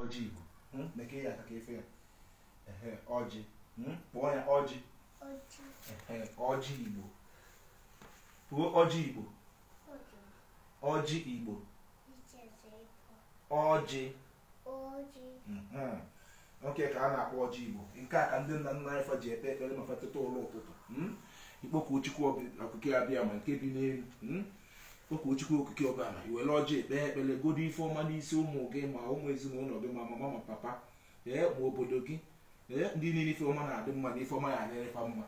ọjị igbo hmm? mekee ya aka ka efe ya ọjị hmm? kpọọ ya ọjị ọjị igbo kwuo ọjị igbo ọjị igbo ọjị hmm. nke a ka a na-akpọ ọjị igbo nke a ka ndị nna nna anyị fa ji ekpe ekpere ma fa teta ụla ụtụtụ ịkpọku chukwu okike abịama nke bi n'elu kpọkuo chukwu okike abịama i were ọjị ekpe ekpere gọdo ife ọma n'isi ụmụ gị ma ụmụ ezinụlọ gị ma mama ma papa ee ma obodo gị ee ndị niile ife ọma na-adị mma na ife ọma ya-adịrị fa mma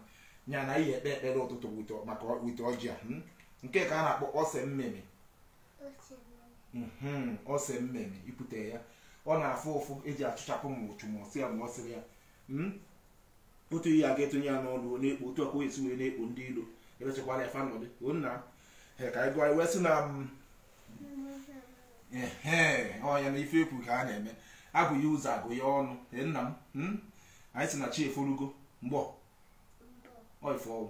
nya na ihe ekpe ekpere ụtụtụ wite maka wite ọjị a hmm? nke a ka a na-akpọ ose mmemme mhm, ose mmemme ipute ya ọ na-afụ ụfụ e ji achụchapụ ma uchu ma ọ sị ya ma ọ sịrị ya hmm? otu ihe a ga-etinye ya n'ọnụ ọ na-ekpo otu ọkụ esi wee na-ekpo ndị ilo ebechakwara ya fa nọdị ọ nya ka anyị gụọ wee sị na mm, ọ nya na ife ekwu ka a na-eme abụ ya ụzọ agụ ya ọnụ nna m hmm? anyị si na chi eforugo mgbọ ọifọwụ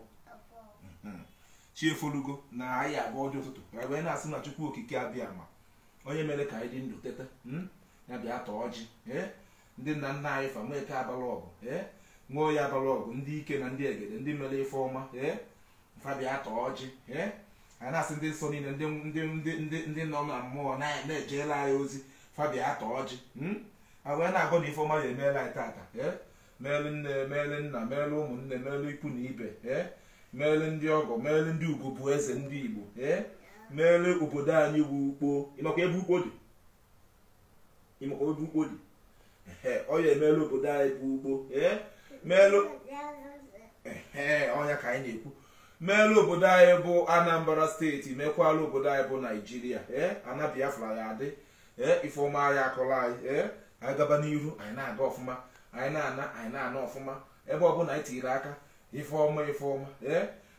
hmm. chi eforugo na anyị agọ ọjị ụtụtụ wee na-asị na chukwu okike abịama onye mere ka anyị dị ndụ teta hmm? ya bịa taa ọjị ndị nna nna anyị fa nweke abala ọgụ ee nwoye abala ọgụ ndị ike na ndị egede ndị mere ife ọma ee fa bịa taa ọjị ee anyị na-asị ndị nsọ niile ndị ndị ndị ndị ndị nọ na mmụọ na- na-ejelu anyị ozi fa bịa taa ọjị mm? a wee na-agọ na ife ọma ya-emelu anyị tata ee meelu nne meelu nna meelu ụmụnne meelu ikwu na ibe ee meelu ndị ọgọ meelu ndị ugwu bụ eze ndị igbo ee meelu obodo anyị bụ ukpo ị makwa ebe ukpo dị ị makwa ebe ukpo dị ọ ya-emelu obodo anyị bụ ukpo meelu ọ nya ka anyị na-ekwu meelu obodo anyị bụ anambra state mekwalu obodo anyị bụ nigeria ee ana biafra ya-adị ee ife ọma ya akọla anyị ee anyị gaba n'iru anyị na-aga ọfụma anyị na-ana anyị na-ana ọfụma ebe ọbụla anyị tiri aka ife ọma ife ọma ee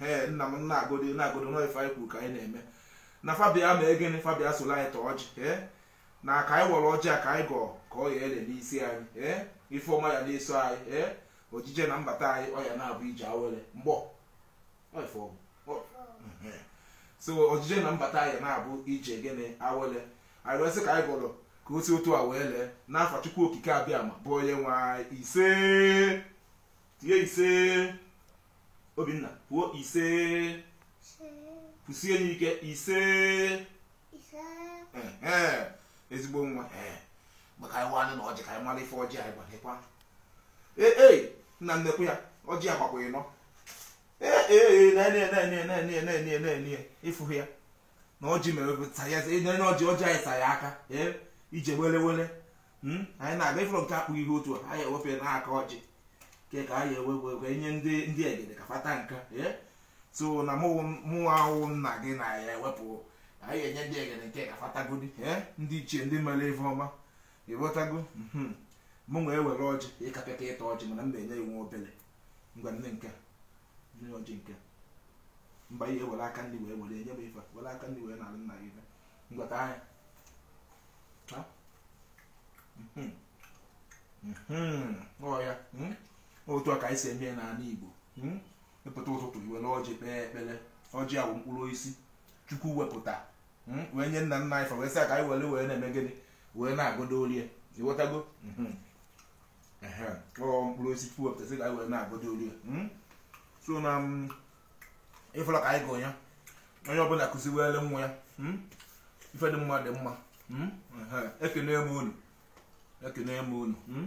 ee nna m na-agọdi na-agọdi na ife anyị kwuru ka anyị na-eme na fa bịa mee gịnị fa bịa solu anyị taa ọjị ee na ka anyị wara ọjị a ka anyị gọọ ka ọ ya-ele n'isi anyị ee ife ọma ya na-eso anyị ee ojije na mbata anyị ọ ya na-abụ ije awele mgbọ ọ ife ọgwụ ọ ehe. so ojije na mbata anyị na-abụ ije gịnị awele anyị wee sị ka anyị gọrọ ka o si otu a wee lee n'afa chukwu okike abịama bụ onye nwe anyị isee tie isee obinna kwuo ise kwụsie ya ike ise ezigbo nwa bịa ka anyị waanụ ọjị ka anyị mara ife ọjị anyị gbakwa ee e, nna nnekwu ya ọjị ya gbakwa ịnọ ee na-enye ịfụhụ ya na ọjị mere ọjị ọjị anyị sa ya aka ije wele wele hmm? anyị na-aga ịfụrụ nke akpụghị ihe otu a anyị ewepụ n'aka ọjị ke ka anyị ewe wee enye ndị ndị egede ka fa taa nka eh? so na mụnwa a wụ nna gị na ya ewepụ anyị enye ndị egede nke ka fa tagodi eh? ndị ichie ndị mere ife ọma ị ghọtago hmm. mụ nwa ewere ọjị ịkapịa ka ịta ọjị mana m na-enye iwu obere ngwa nee nke nee ọjị nke mba i were aka nri wee were enye m ife were aka nri wee nalụ nna gị ife ngwa taanụ ya ọ ya hmm? otu a ka anyị si eme n'ala Igbo hmm? ị pụta ụtụtụ i were ọjị kpee ekpere ọjị a wụ mkpụrụ osisi chukwu wepụta hmm? wee nye nna nna anyị fa wee sị ka anyị were wee na-eme gịnị wee na-agodo orie ị ghọtago ọ mkpụrụ osisi chukwu wepụta sị ka anyị were na-agodo orie so na ị fụla ka anyị gọ ya onye ọbụla kụziwere nwa ya hmm? ife dị mma dị mma hmm? ekene m unu ekene m unu hmm?